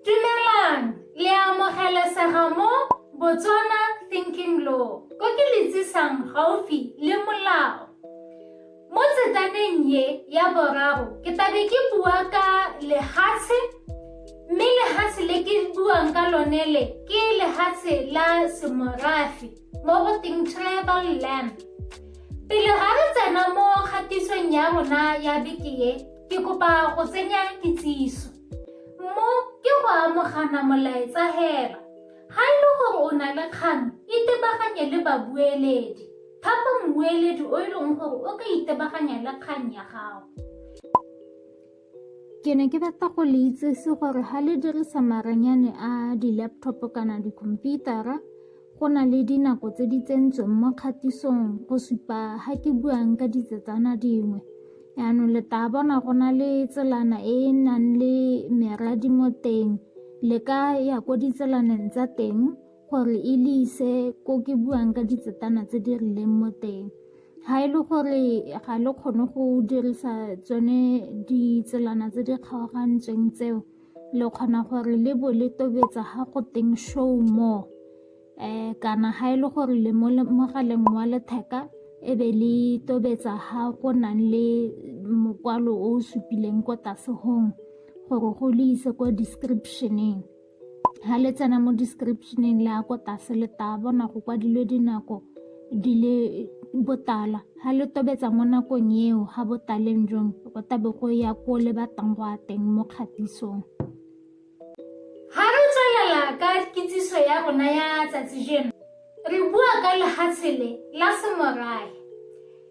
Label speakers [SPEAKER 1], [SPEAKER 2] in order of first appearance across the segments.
[SPEAKER 1] Dumelang, le amogelesega mo Botswana Thinking Law, ko ke le tsisang gaufi le molao. Mo tsetaneng ye ya boraro, ke tlabe ke bua ka lehatshe, mme lehatshe le ke buang ka lone le ke lehatshe la semorafe mo go teng tribal land. Pele ga re tsena mo kgatisong ya rona ya beke ye, Ke kopa go tsenya kitsiso. Mo ke go amogana molaetsa hela. Ga e le gore o na le kgang, itebaganye le babueledi. Thapa mmueledi o e leng gore o ka itebaganya le kgang ya gago. Ke ne ke batla go le itsese gore ga le dirisa maranyane a di-laptop kana dikhomputara Go na le dinako tse di tsentsweng mo kgatisong go supa ga ke buang ka ditsetsana dingwe yaanong le tla bona go na le tselana e e nang le meradi mo teng le ka ya ko ditselaneng tsa teng gore e le ise ko ke buang ka ditsetana tse di rileng mo teng ga e le gore ga le kgone go dirisa tsone ditselana tse di kgaogantsweng tseo le kgona gore le bo le tobetsa ga go teng show more um kana ga e le gore le mo mogaleng wa letheka e be le tobetsa ga go nang le mokwalo o o supileng ko tlase gong gore go le ise ko descriptioneng ga le tsena mo descriptioneng le ya ko tlase le taba bona go kwadilwe dinako di le botala ha le tobetsa mo nakong eo ha botaleng jong go tabe go ya ko le batlang go a teng mo kgatisong ha re tswelela ka kitsiso ya rona ya tsatsi jeno re bua ka lehatshe le la semorae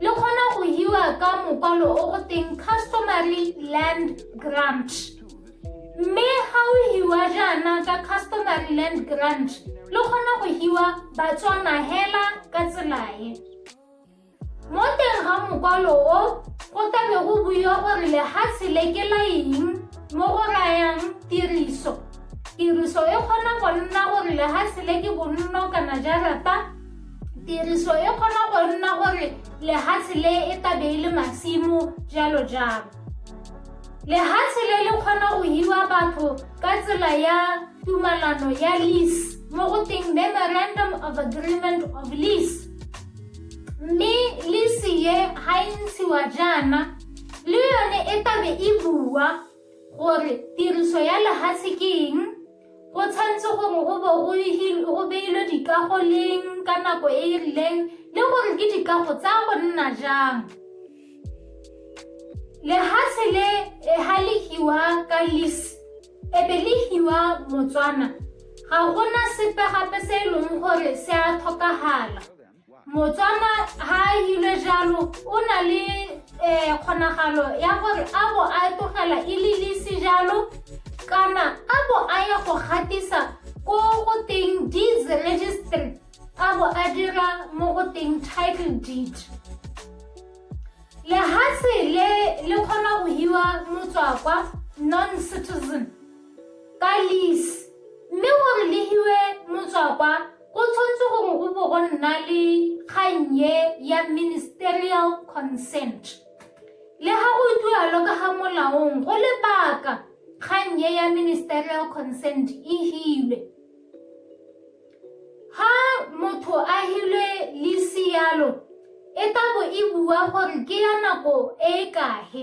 [SPEAKER 1] le kgona go hiwa ka mokwalo o go teng customary land grant mme ga o hiwa jaana ka customary land grant le kgona go hiwa batswana hela ka tselae mo teng ga mokwalo o go tabe go buiwa gore lehatshe le ke la eng mo go rayang tiriso tiriso e kgona go nna gore lehatshe le ke bonno kana jarata Tiriso e kgona go nna gore lehatshe le e tabe e le masimo jalo jalo. Lehatshe le le kgona go hiwa batho ka tsela ya tumalano ya lease mo go teng memorandum of agreement of lease. Mme lease ye ha e ntshiwa jaana le yone e tabe e bua gore tiriso ya lehatshe ke eng go tshwanetse gore go bo go beilwe dikago leng ka nako e e rileng le gore ke dikago tsa go nna jang lehatshe le ga le hiwa ka lise ebe le hiwa motswana ga gona sepe gape se e leng gore se a tlhokagala motswana ha a ile jalo o na le um kgonagalo ya gore a bo a tlogela e le lese jalo kana a bo a ya go gatisa ko go teng deeds registry a bo a dira mo go teng title deed lehatshe le le kgona go hiwa motswakwa non citizen ka lease mme gore le hiwe motswakwa Go tshwanetse gore go bo go nna le kgang e ya ministerial consent le ga go tualo ka ga molaong go lebaka kgang e ya ministerial consent e hilwe ha motho a hilwe le sialo e ka bo e bua gore ke ya nako e e kahe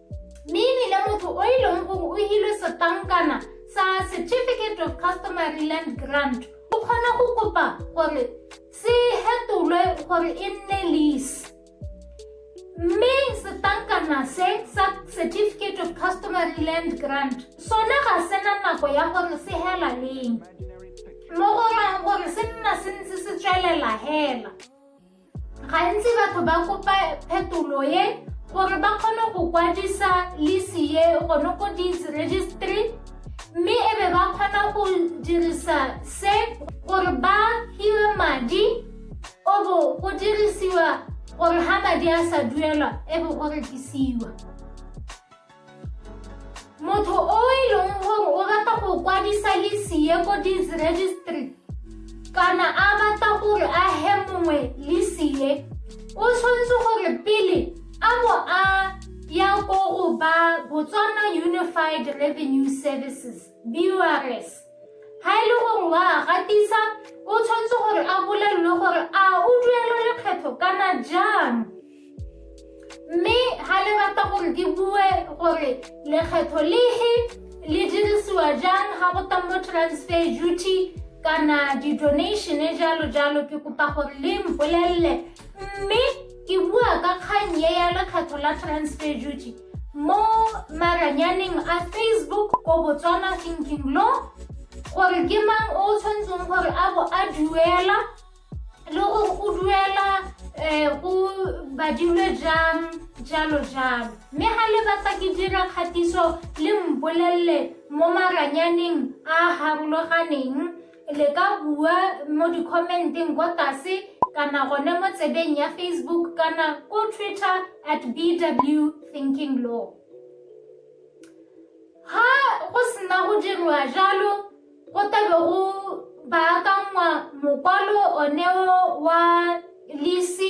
[SPEAKER 1] mme ebile motho o e leng gore o hilwe setlankana sa certificate of customary land grant o kgona go kopa gore se hetolwe gore e nne lease mme setlankana se sa certificate of customary land grant sone ga se na nako ya gore se hela leng mo go raya gore se nna se ntse se tswelela hela Gantsi batho ba kopa phetolo e gore ba kgone go kwadisa lisi e gone ko dis registry mme e be ba kgona go dirisa se gore ba hiwe madi o bo go dirisiwa gore ha madi a sa duelwa e be go rekisiwa motho o e leng gore o rata go kwadisa lesie ko disregistry kana a batla gore a he mongwe lesie o tshwanetse gore pele a bo a ya ko go ba botswana unified revenue services Viewers, ha e le gore wa gatisa o tshwanetse gore a bolelelwe gore a o duela lekgetho kana jang mme ha le rata gore ke bue gore lekgetho lehe le dirisiwa jang ga go tang mo transfer duty kana di-donation e jalo jalo ke kopa gore le mpolelele mme ke bua ka kgang ye ya lekgetho la transfer duty mo maranyaneng a facebook ko botswana thinking law gore ke mang o tshwanetseng gore a bo a duela le gore go duela um go badilwe jang jalo jalo mme ga le batla ke dira kgatiso le mbolelele mo maranyaneng a harologaneng le ka bua mo di-commenteng kwa tlase kana gone mo tsebeng ya facebook kana ko twitter at bw thinking law ha go sena go dirwa jalo go tabe go baakangwa mokwalo oneo wa lisi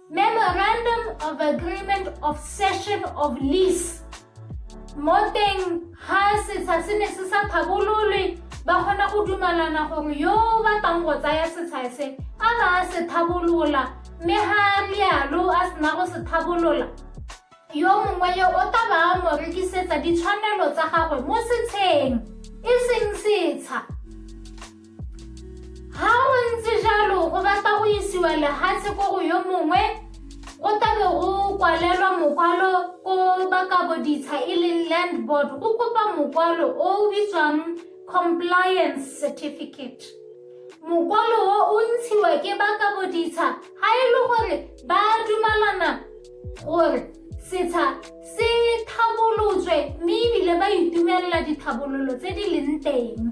[SPEAKER 1] Memorandum of Agreement of Cession of Lease mo teng ga setsha se ne se sa tlhabololwe ba kgona go dumalana gore yo o batlang go tsaya setsha se a ba a se tlhabolola mme ga a rialo a sena go se tlhabolola yo mongwe yo o tla ba a mo rekisetsa ditshwanelo tsa gagwe mo setsheng e seng setsha ga go ntse jalo go batla go isiwa lehatshe ko go yo mongwe go tabe go kwalelwa mokwalo ko bakabo ditsha e leng land board go kopa mokwalo o o bitswang compliance certificate mokwalo o o ntshiwa ke bakabo ditsha ga e le gore ba dumalana gore setsha se tlhabolotswe mme ebile ba itumelela ditlhabololo tse di leng teng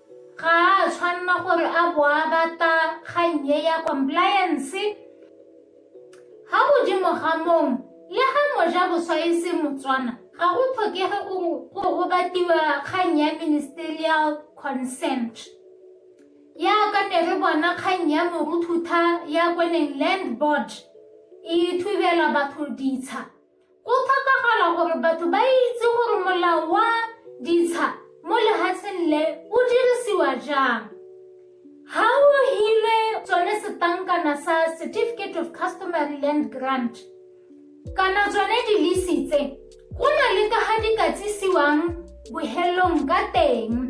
[SPEAKER 1] Ga a a tshwanna gore a bo a bata kgang e ya compliance. Ga godimo ga mong, le ga moja boswa e se Motswana, ga go tlhokege gore go go batiwa kgang ya ministerial consent. Yaka ne re bona kgang ya moruthutha ya kweneng land board e thubela batho ditsha. Go tlhokagala gore batho ba itse gore molao wa ditsha mo lehatsheng le o dirisiwa jang. Ha o hilwe tsone setankana sa Certificate of Customary Land Grant kana tsone dilisi tse go na le ka ga di ka tsisiwang bohelong ka teng.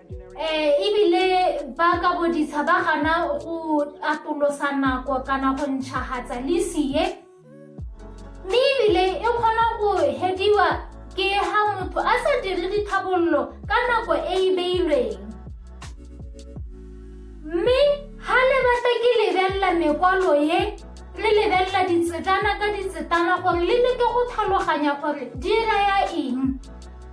[SPEAKER 1] Eh, ebile ba ka bodisa ba gana go atolosa nako kana go ntšhagatsa lisi ye mme ebile e kgona go hediwa ke ha motho a sa dire ditlhabololo ka nako e e beilweng mme ha le batla ke lebelela mekwalo ye re lebelela ditsetana ka ditsetana gore le leke go tlhaloganya gore di raya eng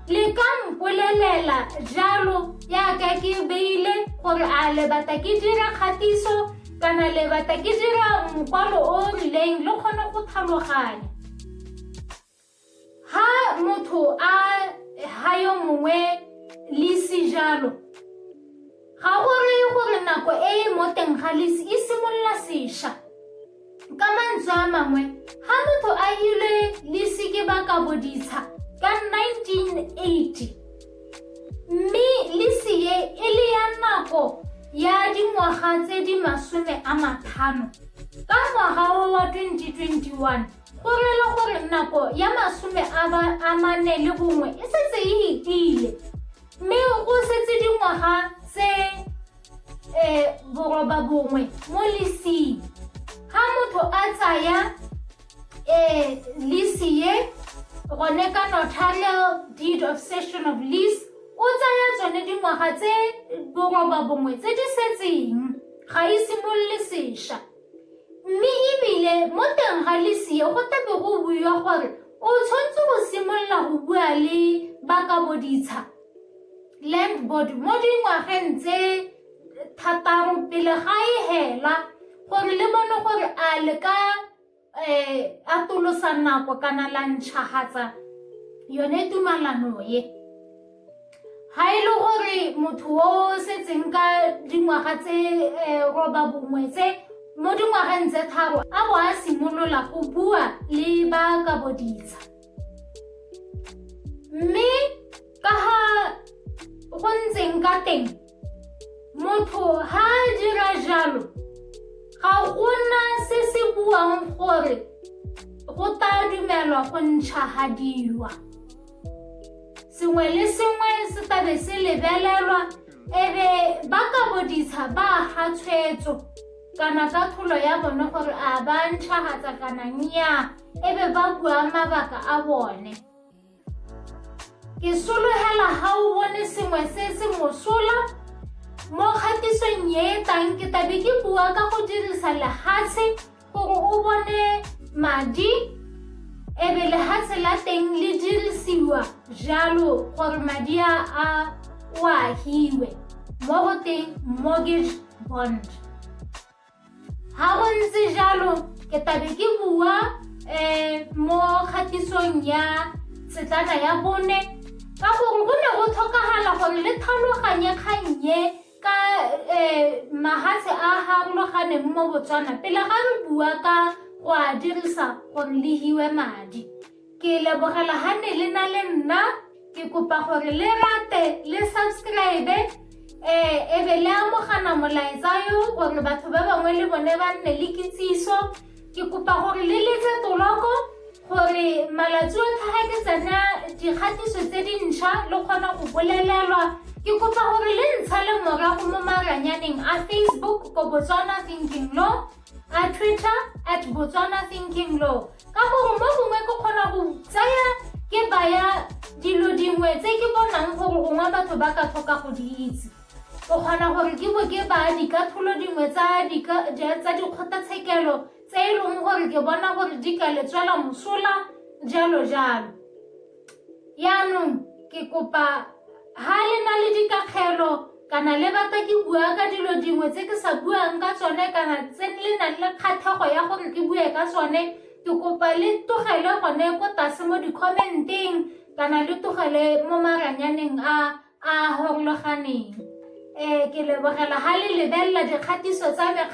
[SPEAKER 1] le ka mpolelela jalo yaka ke beile gore a le batla ke dira kgatiso kana le batla ke dira mokwalo o o rileng le kgone go tlhaloganya ha motho a ha yo mongwe lisi jalo ga go reye gore nako e e mo teng ga lisi e simolola sešwa Ka mantswe a mangwe, ga motho a ile le seke ba ka boditsha ka 1980 mme lisi e e le ya nako ya dingwaga tse di masome a matlhano ka ngwaga wa 2021 go rela gore nako ya masome a mane le bongwe e setse e itile mme go setse dingwaga tse um borobabongwe mo lesing ga motho a tsaya um lese ye gone ka notarial deed of session of lease o tsaya tsone dingwaga tse borobabongwe tse di setseng ga e simolole sešwa mme ebile mo teng ga lese ye go tabe go buiwa gore o tshwanetse go simolola go bua le ba ka boditsha land board mo dingwageng tse thataro pele ga e hela gore le bone gore a le ka um atolosa nako kana la ntšhagatsa yone tumalano ye ga e le gore motho o setseng ka dingwaga tse eh, roba bongwe tse mo dingwageng tse tharo a bo a simolola go bua le ba ka boditsha mme ka ga go ntseng ka teng motho ha a dira jalo ga gona se se buang gore go tla dumelwa go ntšhagadiwa sengwe le sengwe se tlabe se lebelelwa ebe ba ka boditsha ba ga tshwetso kana ka tholo ya bone gore a ba ntšhagatsa kana nnyaa e be ba bua mabaka a bone ke sologela ga o bone sengwe se se mosola mo kgatisong e e tlang ke tabe ke bua ka go dirisa lehatshe gore o bone madi e be lehatshe la teng le dirisiwa jalo gore madi a a o ahiwe mo go teng mortgage bond ga go ntse jalo ke tabe ke bua um mo kgatisong ya setlana ya bone ka gore go ne go tlhokagala gore le tlhaloganye kgannye ka um mahatshe a farologaneng mo botswana pele ga re bua ka go a dirisa gore le hiwe madi Ke lebogela ha ne le na le nna ke kopa gore le rate le subscribe eh e be le amogana molaetsa yo gore batho ba bangwe le bone ba nne le kitsiso ke kopa gore le letse toloko gore malatsi otlhe ga ke tsena dikgatiso tse dintšha le kgona go bolelelwa ke kopa gore le ntsha le morago mo maranyaneng a facebook ko botswana thinking law a twitter at botswana thinking law ka gore mo gongwe ke kgona go tsaya ke baya dilo dingwe tse ke bonang gore gongwe batho ba ka tlhoka go di itse o kgona gore ke bo ke baya dikatholo dingwe tsa dikgotlatshekelo tse e leng gore ke bona gore di ka letswela mosola jalo jalo yaanong ke kopa ha le na le dikakgelo kana le batla ke bua ka dilo dingwe tse ke sa buang ka tsone kana tse le nang le kgathego ya gore ke bue ka tsone ke kopa le tlogele gone ko tlase mo di-comment-eng kana le tlogele mo maranyaneng a a gongloganeng um ke lebogela ga le lebelela dikgatiso tsa me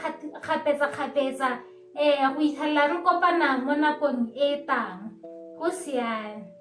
[SPEAKER 1] kgapetsa-kgapetsa um go itlhelela re kopana mo nakong e tang go siane